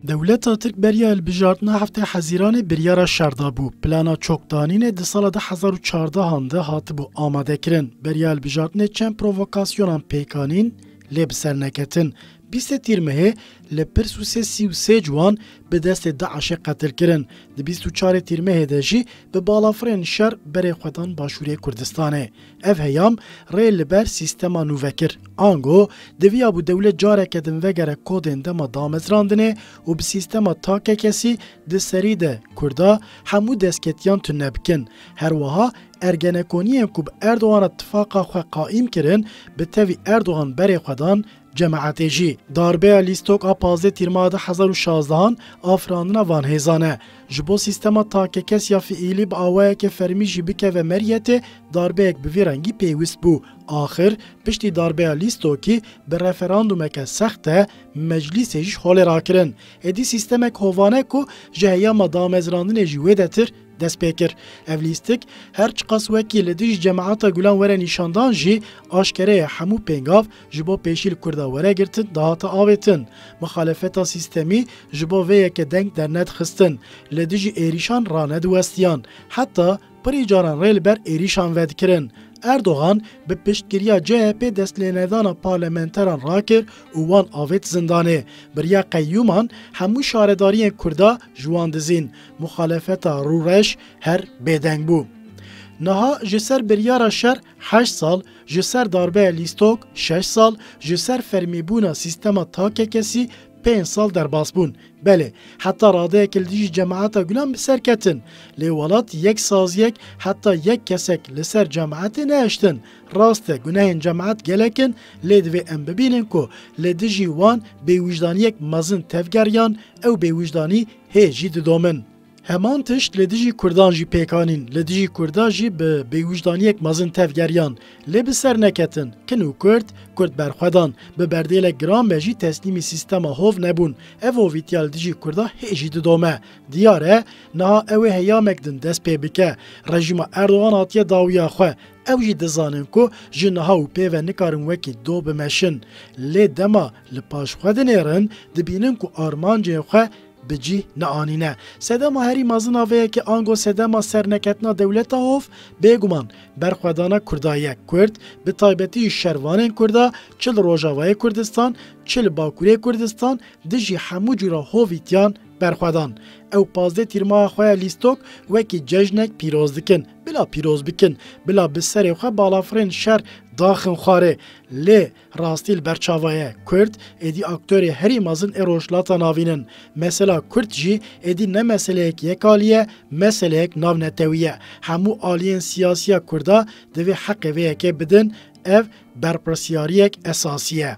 Dewleta Tirk beriya hilbijartina heftê Hezîranê biryara şer dabû. Plana çokdanînê di sala du hezar û çardehan de hatibû amadekirin. Beriya hilbijartinê çend provokasyonan pêk anîn lê bi ser neketin. Bîstê Tîr Mehê li Pirsûsê sî û sê ciwan bi destê DAIŞ'ê qetil kirin. Di bîst û çarê Tîr Mehê de jî bi balafirên şer berê xwe dan Başûrê Kurdistanê. Ev heyam rê li ber sîstema nû vekir. Ango diviyabû dewlet careke din vegere kodên dema damezrandinê û bi sîstema takekesî di serî de Kurda hemû destketiyan tune bikin. Her wiha ergenekoniyên ku bi Erdogan re tifaqa xwe qaîm kirin bi tevî Erdogan berê xwe dan Cemaetê jî darbeya lîstok a pazdeh Tîrmaha du hezar û şazdehan afirandina van hêzan e. Ji bo sîstema takekes ya fiîlî bi awayeke fermî jî bikeve meriyetê, darbeyek bi vî rengî pêwîst bû. Axir piştî darbeya lîstokî bi referandûmeke sext e, meclîsê jî holê rakirin. Êdî sîstemek hovane ku ji heyama damezrandinê jî wêdetir dest pê kir. Ev lîstik her çiqas wekî li dijî Cemaeta Gulan were nîşandan jî, aşkere ye hemû pêngav Ji bo pêşî li Kurda were girtin dihate avêtin. Mixalefeta sîstemî ji bo vê yeke deng dernedixistin. Li dijî êrîşan ranediwestiyan. Heta pirî caran rê li ber êrîşan vedikirin. Erdogan bi piştgiriya CHP'ê destlênedana parlamenteran rakir û wan avêt zindanê. Biriya qeyyûman hemû şaredariyên Kurda ji wan dizîn. Mixalefeta rûreş her bêdeng bû. Niha ji ser biryara şer Heşt sal ji ser darbeya lîstok, şeş sal ji ser fermîbûna sîstema takekesî, pênc sal derbasbûn. Belê, heta radeyekê li dijî cemaeta Gulan bi ser ketin. Lê welat yek saziyek heta yek kesek li ser cemaetê nehiştin. Rast e gunehên cemaet gelek in lê divê em bibînin ku li dijî wan bêwîjdaniyek mezin tevger yan ew bêwîjdanî hê jî didomin. Heman tişt li dijî Kurdan jî pêk anîn, li dijî Kurda jî bi bêwijdaniyek mezin tev geriyan. Lê bi ser neketin. Kin û Kurd, Kurd berxwedan. Bi berdêlek giran be jî teslîmî sîstema hov nebûn. Ev hovîtiya li dijî Kurda hê jî didome. Diyar e, niha ew ê heyamek din dest pê bike. Rejîma Erdogan hatiye dawiya xwe. Ew jî dizanin ku ji niha û pê ve nikarin wekî doh bimeşin. Lê dema li paş xwe dinêrin, dibînin ku armancên xwe bi cih neanîne. Sedema herî mezin a vê yekê ango sedema serneketina dewleta hov, bêguman berxwedana Kurda ye. Kurd, bi taybetî jî şervanên Kurda, çi li Rojavayê Kurdistan, çi li Bakurê Kurdistan, dijî hemû cûra hovî tiyan berxwedan. Ew pazdeh tîrmaha xwe ya lîstok wekî cejnek pîroz dikin. Bila pîroz bikin, bila bi serê xwe balafirên şer daxin xwarê. Lê Rastî li ber çava ye, Kurd êdî aktorê herî mezin ê Rojhilata Navîn in. Mesela Kurd jî êdî ne meseleyek yek alî ye, meseleyek navnetewî ye. Hemû aliyên siyasiya Kurda divê heqê vê yekê bidin, ev berpirsiyariyek esasî ye.